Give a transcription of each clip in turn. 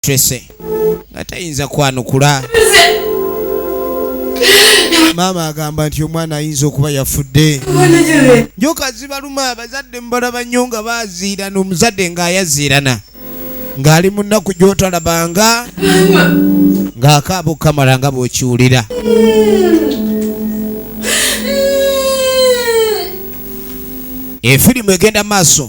Tracy nga tayinza kwanukula. Maama agamba nti omwana ayinza okuba yafudde. Njoka zibaluma abazadde mubalaba nnyo nga baziirana omuzadde ng'ayaziirana ng'ali mu nnaku gy'otalabanga ng'akaaba okukamala nga bw'okiwulira. efirimu egenda maaso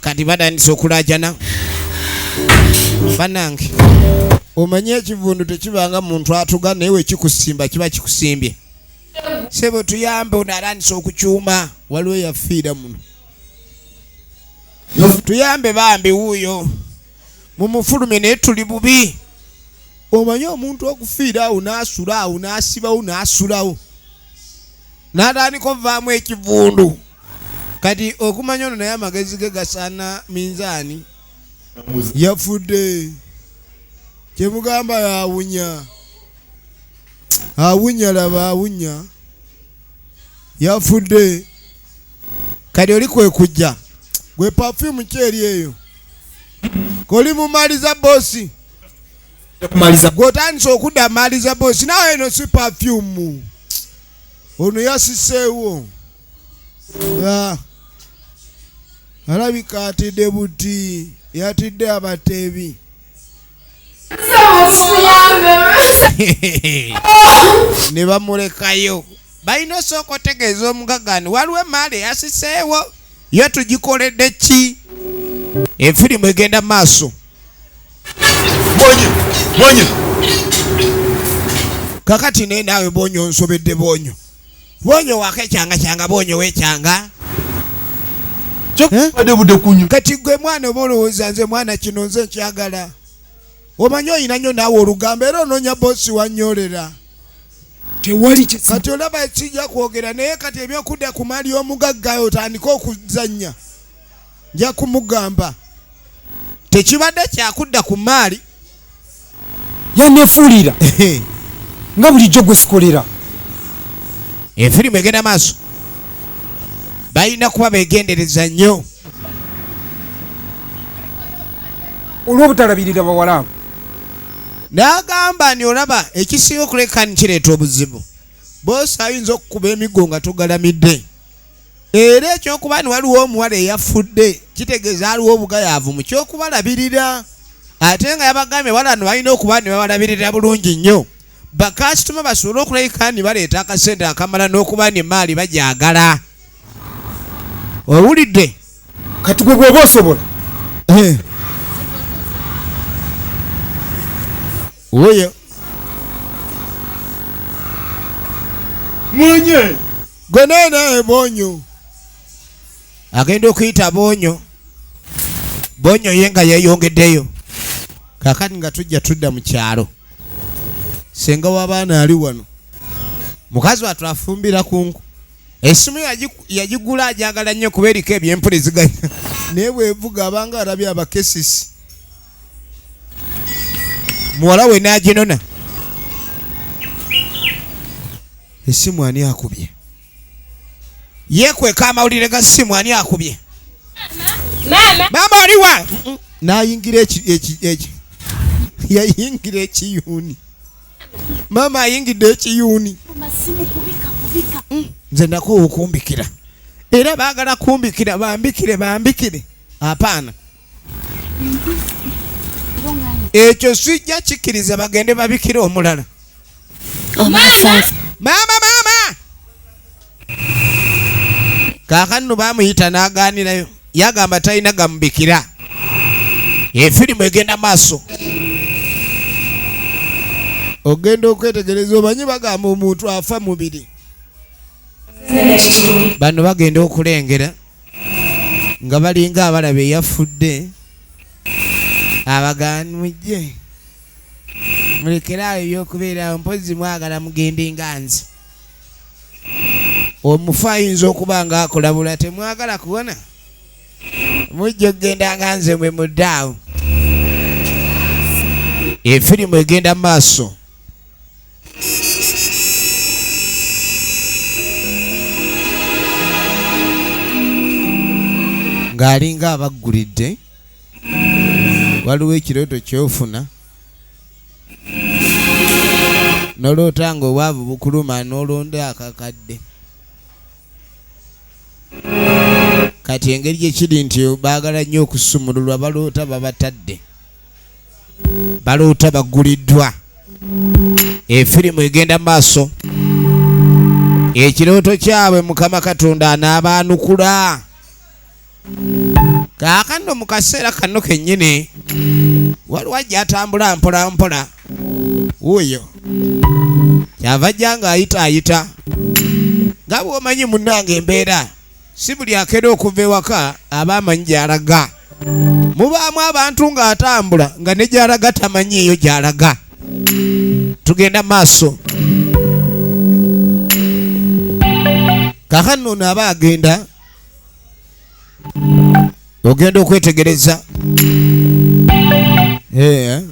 kati batandise okulajana banange omanyi ekivundu tekibanga muntu atuga naye wekikusimba kiba kikusimbye sebo tuyambe ono arandisa okukyuma waliwo yafiira muno tuyambe bambi wuuyo mumufulumye naye tuli bubi omanye omuntu okufiira awo n'asula awo n'asibawo n'asulawo n'atandika ovaamu ekivundu kati okumanya ono naye amagezi ge gasaana minzaani yafudde kyemugamba yawunya awunya laba awunya yafudde kati oli kwekujja gwe pafyumu kyeri eyo koli mumaliza bosi gwotandisa okudda maliza bosi nawe eno si pafyumu ono yasiseewo ah. alabika atidde buti yatidde abateebi ne bamulekayo balina osooka otegeeza omugaga ni waliwo emaali eyasiseewo yo tugikoledde ki efirimu egenda maaso kakati naye naawe bonyo nsobedde bonyo Bwonyo wako ekyanga kyanga bwonyo wekyanga kyokubadde budde kunyo kati gwe mwana oba olowooza nze mwana kino nze nkyagala omanyi olina nyo naawe olugambo era onoonya boosi wanyolera tewali kati olaba ekijja kwogera naye kati ebyokudda ku mali omugagga otandike okuzannya nja kumugamba tekibadde kyakudda ku maali yanefuulira nga bulijjo gwe sikolera efirimu egenda maaso balina kuba begendereza nnyo olwobutalabirira bawala abo n'agamba ni olaba ekisinga okuleka nikireeta obuzibu boosi ayinza okukuba emigo nga tugalamidde era ekyokuba ni waliwo omuwala eyafudde kitegeeza aliwo obugayaavu mu kyokubalabirira ate nga yabagambye wala no balina okuba ne babalabirira bulungi nnyo bakasitoma basobole okulabika ni baleeta akasente akamala n'okuba ni maali bajagala owulidde kati gwe bwoba osobola eh. oyo mwenye gwe nene bonyo agenda okuyita bonyo bonyo ye nga yeyongeddeyo kakati nga tujja tudda mu kyalo senga w'abaana ali wano mukazi watu afumbira kunku esimu yagigula ajagala nnyo kuba eriko ebyempuliziganya naye bwevuga abanga alabye abakesisi muwala we n'aginona Esimu ani akubye? Yekweka amawulire ga simu ani akubye? Mama. Mama ali wa? Nayingira eki eki eki. Yayingira ekiyuni. Mama ayingidde ekiyuni. Masimu kubika kubika. Mm. Nze ndako okumbikira. Era baagala kumbikira bambikire bambikire. Hapana. ekyo sijja kikkiriza bagende babikira omulala oh, maama maama kakanno bamuyita n'agaanirayo yagamba talina gamubikira efirimu egenda maaso ogenda okwetegereza omanyi bagamba omuntu afa mubiri bano bagenda okulengera nga balinga abalaba eyafudde abaganmujje mulekeraawo ebyokubeerawo mpozi mwagala mugende nga nze omufu ayinza okuba nga akulabula temwagala kuwona mujja okugenda nga nze mwe muddaawo efirimu egenda mu maaso ng'alinga abaggulidde waliwo ekirooto kyofuna noloota nga obwavu bukuluma n'olonda akakadde kati engeri gyekiri nti baagala nnyo okusumululwa baloota babatadde baloota bagguliddwa efirimu egenda maaso ekirooto kyabwe mukama katonda anaabaanukula kaakano mu kaseera kano kennyini waliwo ajja atambula mpola mpola wuuyo kyava jja ng'ayita ayita nga bw'omanyi munnange embeera si buli akera okuva ewaka aba amanyi gy'alaga mubaamu abantu ng'atambula nga ne gy'alaga tamanyi eyo gy'alaga tugenda maaso kakano ono aba agenda ogenda okwetegereza eh, eh.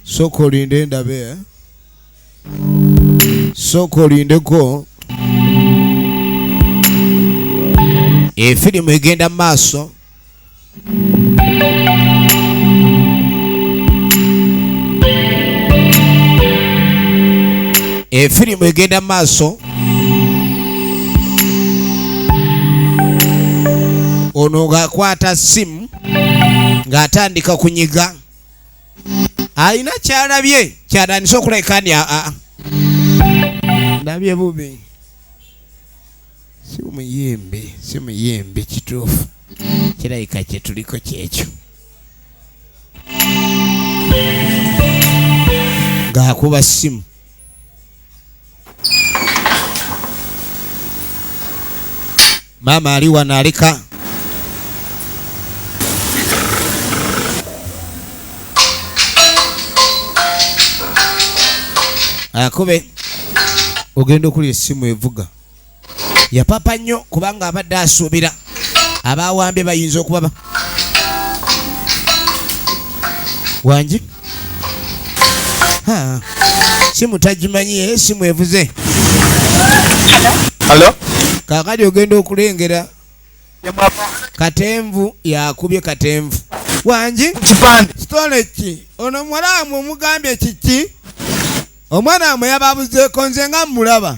sooka olinde endabe eh. sooka olindeko efirimu egenda mu maaso efirimu egenda mu maaso ono ng'akwata simu ng'atandika kunyiga alina kyalabye kyatandise okuleka ni aa ndabye bubi si muyimbi si muyimbi kituufu kirabika kyetuliko kyekyo ng'akuba ssimu Mama ali wano alika akube ogenda okulira essimu evuga yapapa nnyo kubanga abadde asuubira abawambye bayinza okubaba wangi simu tagimanyi ye simu evuze kakati ogenda okulengera katenvu yakubye katenvu wangi kitole ki ono muwala wamwe omugambye kiki omwana wamwe yababuzeeko nze nga mmulaba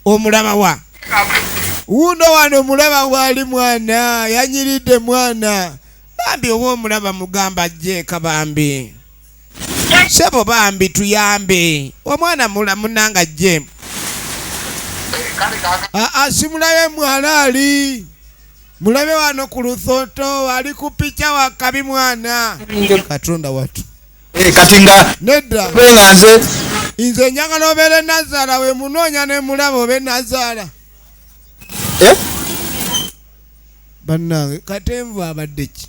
omulaba wa wuuno wano omulaba waali mwana yanyiridde mwana bambi oba omulaba mugamba ajjeeka bambi sebo bambi tuyambe omwana mulamunanga ajje aa simulabe mwana ali mulabe wano ku lusoto ali ku pica wakabi mwana katonda watu Eh, kati nga nedda nga nze nze njagala obeere nazaala we munoonya ne mulaba obe nazaala eh? bannange katenvu abadde ki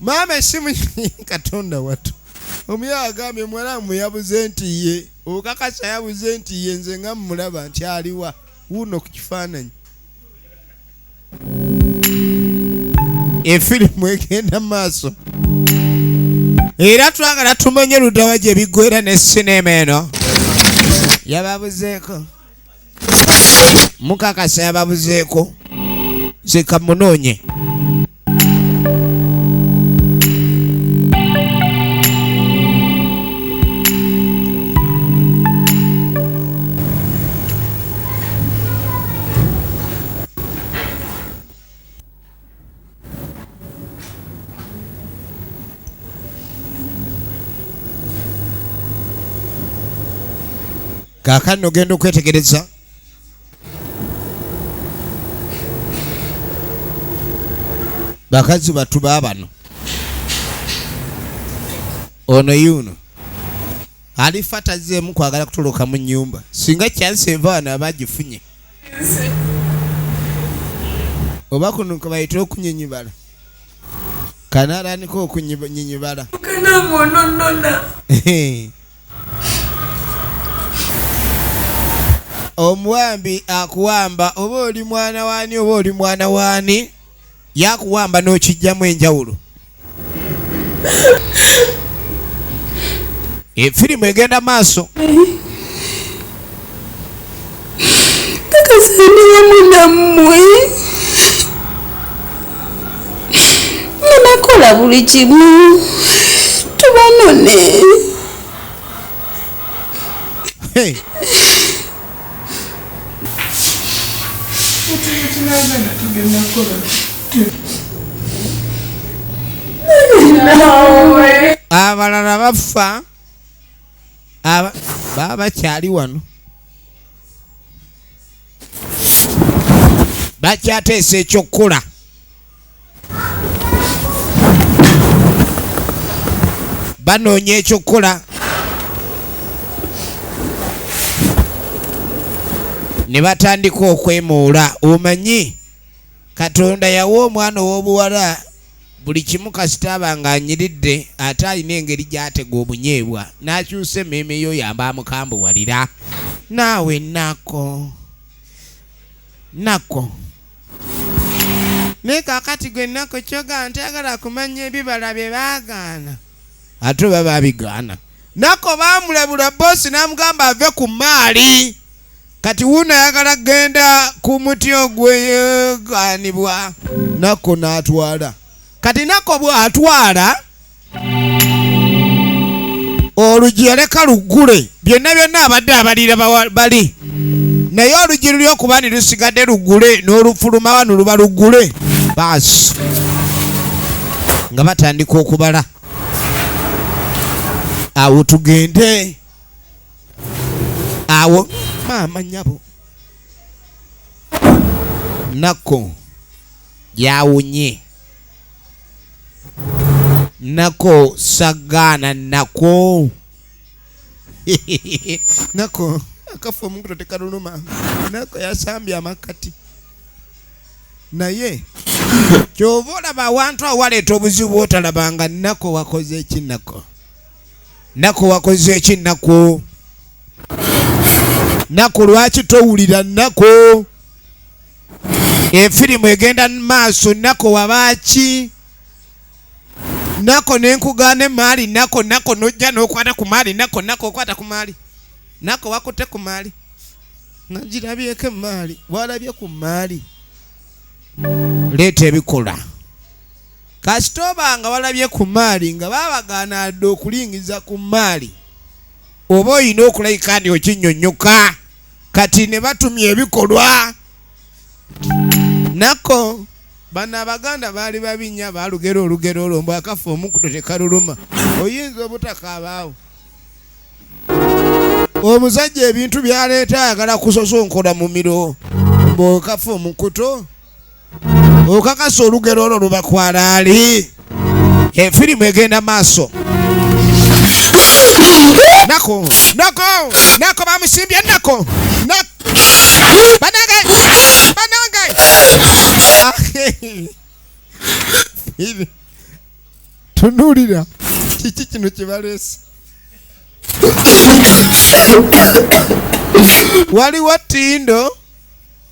maama esimu katonda watu omuyawa agambye muwala muyabuze nti ye okakasa yabuze nti ye nze nga mumulaba nti aliwa wuuno ku kifaananyi efirimu egenda maaso era twagala tumanye ludawa gye biggwera ne sinema eno yababuzeeko mukakasa yababuzeeko zikamunoonye kaakano ogenda okwetegereza bakazi batu babano ono yuno alifa tazeemu kwagala kutoloka mu nyumba singa kyansi eva wano aba agifunye oba kuno kabayita okunyinyibala kanaranika okunyinyibala omuwambi akuwamba oba oli mwana waani oba oli mwana waani yakuwamba n'okijjamu enjawulo efirimu egenda maaso kakasa ndi wamu nammwe nga nakola buli kimu tubanone hey. abalala bafa aba baba bakyali wano bakyateesa ekyokukola banoonya ekyokukola ne batandika okwemuula omanyi katonda yawa omwana ow'obuwala buli kimu kasita aba ng'anyiridde ate alina engeri gy'atega obunyeebwa n'akyusa emmeeme y'oyo aba amukambuwalira naawe nako nako naye kakati gwe nako kyogaa nti agala kumanya ebibala bye baagaana ate oba babigaana nako baamulabula boosi n'amugamba ave ku maali kati wuuno ayagala kugenda ku muti ogweyegaanibwa nakko n'atwala kati nakko bw'atwala oluggi yaleka luggule byonna byonna abadde abalira bali naye oluggi luli okuba ni lusigadde luggule n'olufuluma wano luba luggule baasi nga batandika okubala awo tugende awo maama nyabo nako yawunye nako sagana nako nako akafa omukuto tekaluluma nako yasambye amakati naye kyova olaba awantu awaleeta obuzibu otalabanga nako wakoze ekinako Naku wakoze eki naku? Naku lwaki towulira naku? Efirimu egenda maaso naku wabaaki? Nako nenkugaana emaali nako nako nojja nokwata ku maali nako nako okwata ku maali nako wakutte ku maali nga girabyeko emaali walabye ku maali leeta ebikolwa Kasita oba nga walabye ku maali nga babagaana adde okulingiza ku maali oba olina okulabika ndi okinyonyoka kati ne batumya ebikolwa nako bano abaganda baali babinya balugera olugero olwo mbu akafa omukuto tekaluluma oyinza obutakaabaawo omusajja ebintu byaleeta ayagala kusosonkora mumiro mbu okafa omukuto okakasa olugero olwo lubakwala ali efirimu egenda maaso nako nako nako bamusimbye nako banange banange tunulira kiki kino kyebaleese waliwo tindo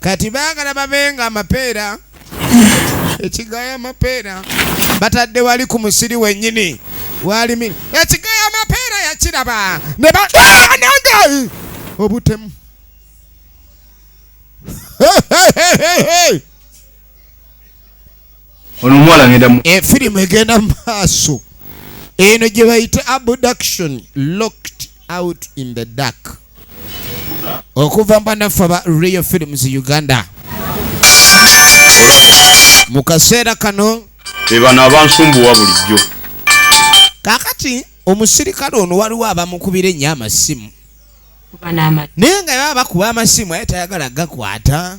kati baagala babenga amapeera ekigaya amapeera batadde wali ku musiri wennyini walimi ekigaya amapeera yakiraba ne banange obutemu ono omuwala ngenda mu efirimu eh, egenda mu maaso eno gye bayita abduction locked out in the dark okuva mbanaffe aba real films uganda mu kaseera kano ebano abansumbuwa bulijjo kakati omusirikale ono waliwo abamukubira ennyo amasimu naye nga baba bakuba amasimu aye tayagala gakwata